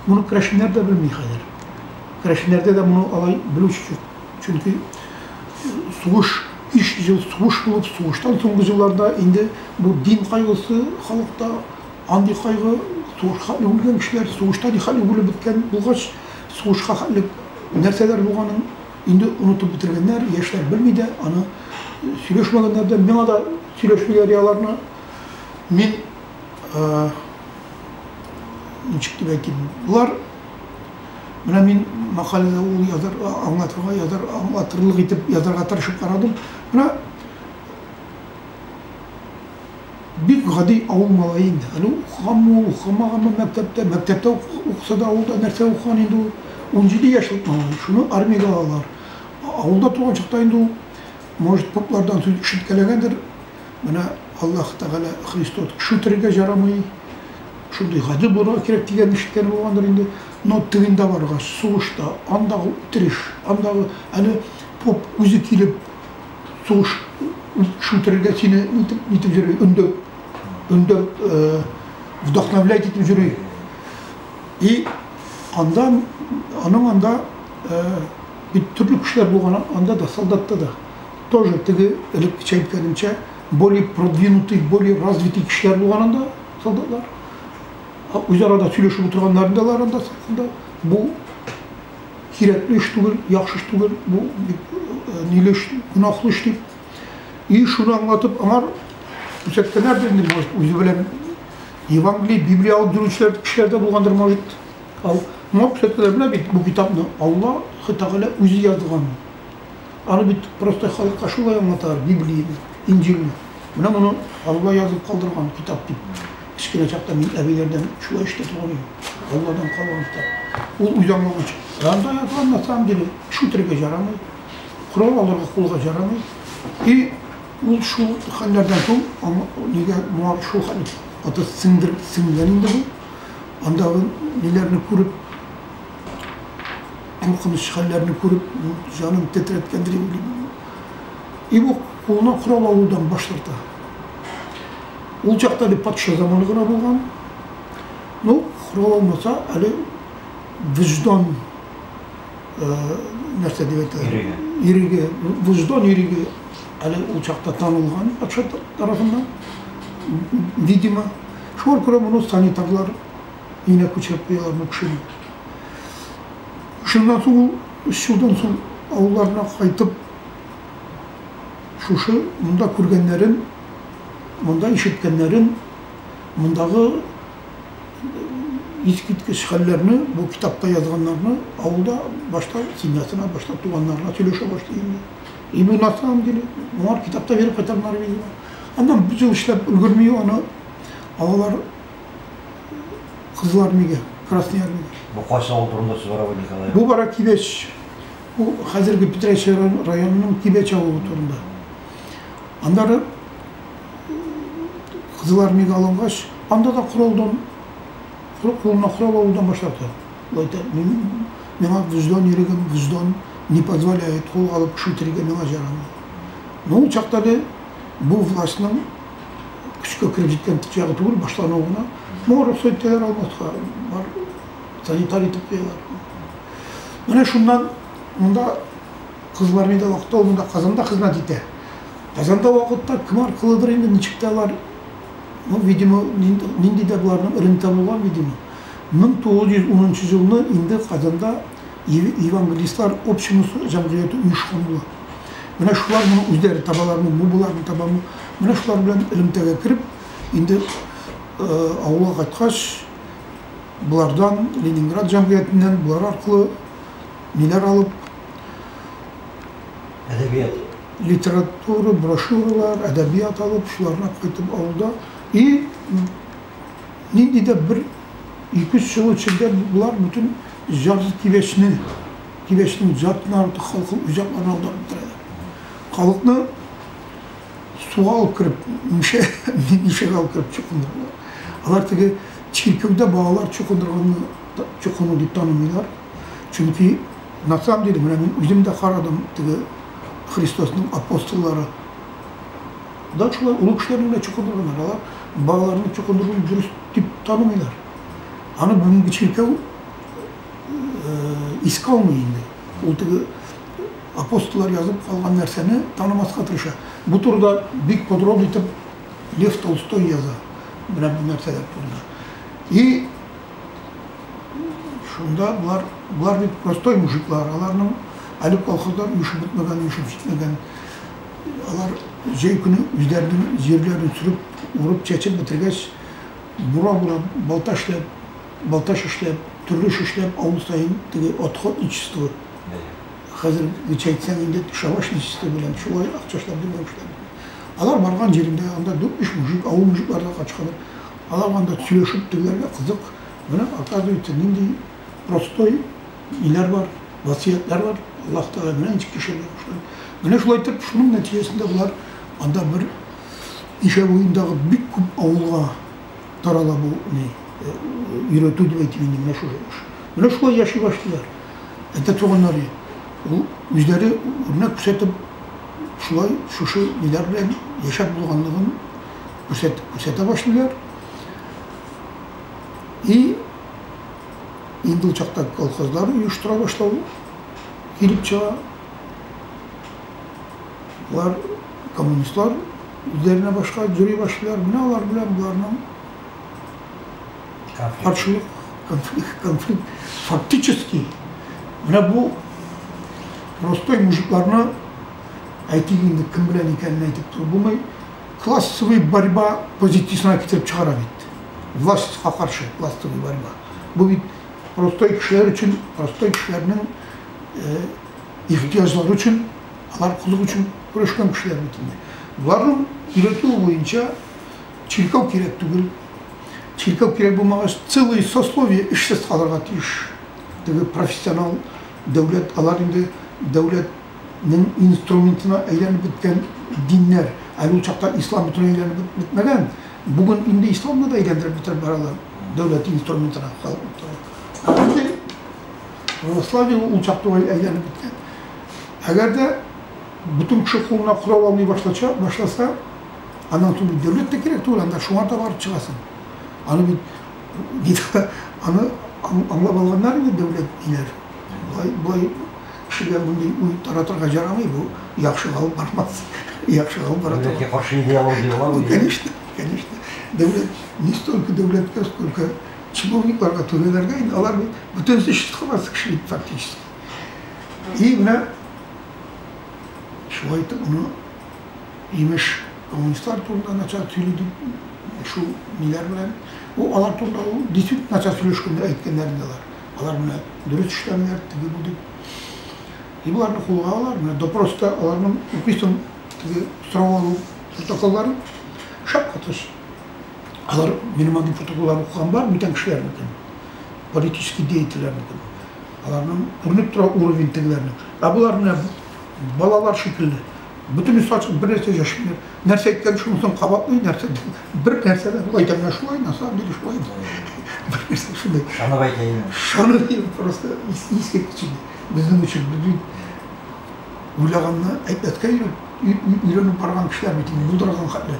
Моны керәшеннәр дә белми хәзер. Керәшеннәрдә дә моны алай белүче юк. Чөнки сугыш, 500 ел сугыш булып, сугыштан соңгы елларда инде бу дин кайгысы халыкта андый кайгы, сугышка үлгән кешеләр, сугышта нихәл үгелеп беткән булгач, сугышка хәтле нәрсәләр булганын инде онытып бетергәннәр, яшьләр белми дә, аны сөйләшмәгәннәр дә. Миңа да сөйләшмиләр аларны. Мин ничек дип әйтим, болар менә мин мәкаләдә ул язар, аңлатырга язар, аңлатырлык итеп язарга тырышып карадым. Менә бик гади авыл малае инде. Әле укыганмы ул, укымаганмы мәктәптә, мәктәптә укыса да авылда нәрсә укыган инде ул. 17 яшьлек малай, шуны армиягә алалар. Авылда туган чакта инде ул, может, поплардан сүз ишеткәләгәндер, Менә Аллаһ Тәгалә Христос кеше үтерергә җарамый, шундый гадел булырга кирәк дигәнне ишеткәне булгандыр инде. Но тегендә барырга, сугышта, андагы үтереш, андагы әле поп үзе килеп сугыш кеше үтерергә сине нитеп, нитеп йөри, өндәп, өндәп, э, вдохновлять итеп йөри. И анда, аның анда э, бит төрле кешеләр булган, анда да, солдатта да. Тоже теге элек кичә әйткәнемчә, более продвинутый, более развитый кешеләр булган анда солдатлар. Үзара да сөйләшеп утырганнарын да алар анда сакында. Бу кирәкле эш түгел, яхшы эш түгел, бу ниле эш, гөнаһлы эш дип. И шуны аңлатып, аңар күрсәткәннәр инде, может, үзе белән Евангелие, Библия алып йөрүчеләр кешеләр дә булгандыр, может. Ал, моңа күрсәткәннәр менә бит бу китапны Аллаһ Тәгалә үзе язган. Аны бит просто халыкка шулай аңлаталар, Библияне, Инҗилне. Менә моны Алла язып калдырган китап дип. Кечкенә чакта мин әбиләрдән шулай ишетәтуган идем. Алладан калган китап. Ул үзаңлагыч. Анда язган на самом деле эш үтерергә җарамый, корал алырга кулга җарамый. И ул шул хәлләрдән соң аңа нигә моңа шул хәл итте? Ата сеңдер сеңгән инде бу. Андагы ниләрне күреп, куркыныч хәлләрне күреп, җанын тетрәткәндер инде. И бу кулына корал алудан баш тарта. Ул чакта әле патша заманы гына булган. Ну, корал алмаса, әле виждан нәрсә дип әйтә? Иреге. Иреге. Виждан иреге әле ул чакта танылган патша тарафыннан. Видимо, шул күрә моны санитарлар Өенә күчереп куялар бу кешене. Шуннан соң ул өч елдан соң авылларына кайтып, шушы монда күргәннәрен, монда ишеткәннәрен, мондагы искиткеч хәлләрне, бу китапта язганнарны авылда башта семьясына, башта туганнарына сөйләшә башлый инде. И бу на самом деле, моңар китапта биреп кайтам Норвегия. Аннан бөтен эшләп өлгерми аны алар Кызлар нигә? Красный армия. Бу кайсы авыл турында сүз бара бу Николай? Бу бара Кибәч. Бу хәзерге Питрәч районының Кибәч авылы турында. Аннары Кызыл армиягә алынгач, анда да коралдан кулына корал алудан башлады. Лайта мин миңа вөҗдан ирегем, вөҗдан не позволяет кул алып кеше үтерергә миңа җарамый. Ну, чакта бу властьның көчкә кереп җиткән чагы түгел, башлануы гына. Моңа рөхсәт итәләр алмаска, бар санитар итеп куялар. Менә шуннан монда кызлар инде вакытта ул монда Казанда хезмәт итә. Казанда вакытта кем аркылыдыр инде ничек тә алар, ну, видимо, нинди дә буларның эренте булган, видимо. 1910 елны инде Казанда Евангелистлар общеносты җәмгыяте оешканлы. Менә шулар моны үзләре табалармы, бу боларны табамы? Менә шулар белән элемтәгә кереп, инде авылга кайткач, болардан Ленинград җәмгыятеннән болар аркылы ниләр алып әдәбият литература, брошюралар, әдәбият алып, шуларны кайтып авылда и нинди дә бер ике-өч ел эчендә болар бөтен Җаты тибешне, тибешнең җатын арты халкы уҗакларына аудартып тора иде. Халыкны суга алып кереп, мишә, мишәгә алып кереп чукындыралар. Алар теге чиркәүдә балалар чукындырганны чукыну дип танымыйлар. Чөнки на самом деле менә мин үзем дә карадым, теге Христосның апостоллары да шулай олы кешеләрне генә чукындырганнар. Алар балаларны чукындыруны дөрес дип танымыйлар. Аны бүгенге чиркәү искә алмый инде. Ул теге апостоллар язып калган нәрсәне танымаска тырыша. Бу турыда бик подроб итеп Лев Толстой яза. Менә бу нәрсәләр турында. И шунда болар, болар бит простой мужиклар, аларның әле колхозлар үсеп бетмәгән, үсеп җитмәгән. Алар җәй көне үзләренең җирләрен сүреп, урып, чәчеп бетергәч, Буран урап, балта эшләп, балтач эшләп, төрле эш эшләп, авыл саен теге отход нечистого, хәзер гечә әйтсәң инде, түшәмач нечистого белән шулай акча эшләп йөргән кешеләр бу. Алар барган җирендә, анда дүрт-биш мужик, авыл мужиклары да качканы, алар анда сөйләшеп тегеләргә кызык, менә, оказывается, нинди простой ниләр бар, васыятьләр бар, Аллаһ Тәгалә менә ничек яшәргә кушкан. Менә шулай итеп, шуның нәтиҗәсендә болар анда бер. Кичә буендагы бик күп авылга тарала бу ни өйрәтү дип әйтим инде менә шул эш. Менә шулай яши башлыйлар. Әтә туганнары ул үзләре үрнәк күрсәтеп шулай шушы ниләр белән яшәп булганлыгын күрсәтеп күрсәтә башлыйлар. И инде ул чакта колхозлар оештыра башлау килеп чыга. Болар Коммунистлар үзләренә башка җөри башлыйлар, менә алар белән боларның каршылык, конфликт, конфликт. Фактически, менә бу простой мужикларны, әйтик инде, кем белән икәнен әйтеп торып булмый, классовый борьба позициясенә китереп чыгара бит. Властька каршы классовый борьба. Бу бит простой кешеләр өчен, простой кешеләрнең ихтыяҗлары өчен Алар кызык өчен көрәшкән кешеләр бит инде. Боларның өйрәтүе буенча чиркәү кирәк түгел. Чиркәү кирәк булмагач, целый сословие эшсез калырга тиеш. Теге профессионал дәүләт, алар инде дәүләтнең инструментына әйләнеп беткән диннәр. Әле ул чакта ислам бөтенләй әйләнеп бетмәгән. Бүген инде исламны да әйләндереп бетереп баралар дәүләт инструментына халыкны. Православие ул чак түгел әйләнеп беткән. Әгәр дә бөтен кеше кулына корал алмый башлача, башласа, аннан соң бит дәүләт тә кирәк түгел, анда шуңа да барып чыгасың. Аны бит диктор, аны аңлап алганнар инде дәүләт диләр. Болай, болай кешегә мондый уй таратырга җарамый, бу яхшыга алып бармас. Яхшыга алып бара Дәүләткә каршы идеологияләр бу. Конечно, конечно. Дәүләт, не столько дәүләткә, сколько чиновникларга, түрәләргә инде, алар бит бөтен эш кылмас кеше бит фактически. И менә шулай итеп моны имеш коммунистлар турында начар сөйли дип шул ниләр белән ул алар турында ул действительно начар сөйләшкәндә әйткәннәр инде алар алар менә дөрес эшләмиләр теге бу дип и боларны кулга алалар менә допроста аларның укыйсың теге сорау алу протоколларын шаккатыш алар минем андый протоколлар укыган бар бүтән кешеләрнекен политический деятельләрнекен Аларның күренеп тора уровень тегеләрнең. Ә болар менә балалар шикелле. Бөтенесе ачык, бер нәрсә дәшмиләр. Нәрсә әйткән шунысын кабатлый, нәрсә бер нәрсә дә шулай итә, менә шулай, на самом деле шулай. Бер нәрсә шулай. Шаны әйтә инде. Шаны дип просто искиткеч инде. Безнең өчен без бит уйлаганны әйтмәскә өйрәнеп барган кешеләр бит инде, булдырган хәтле.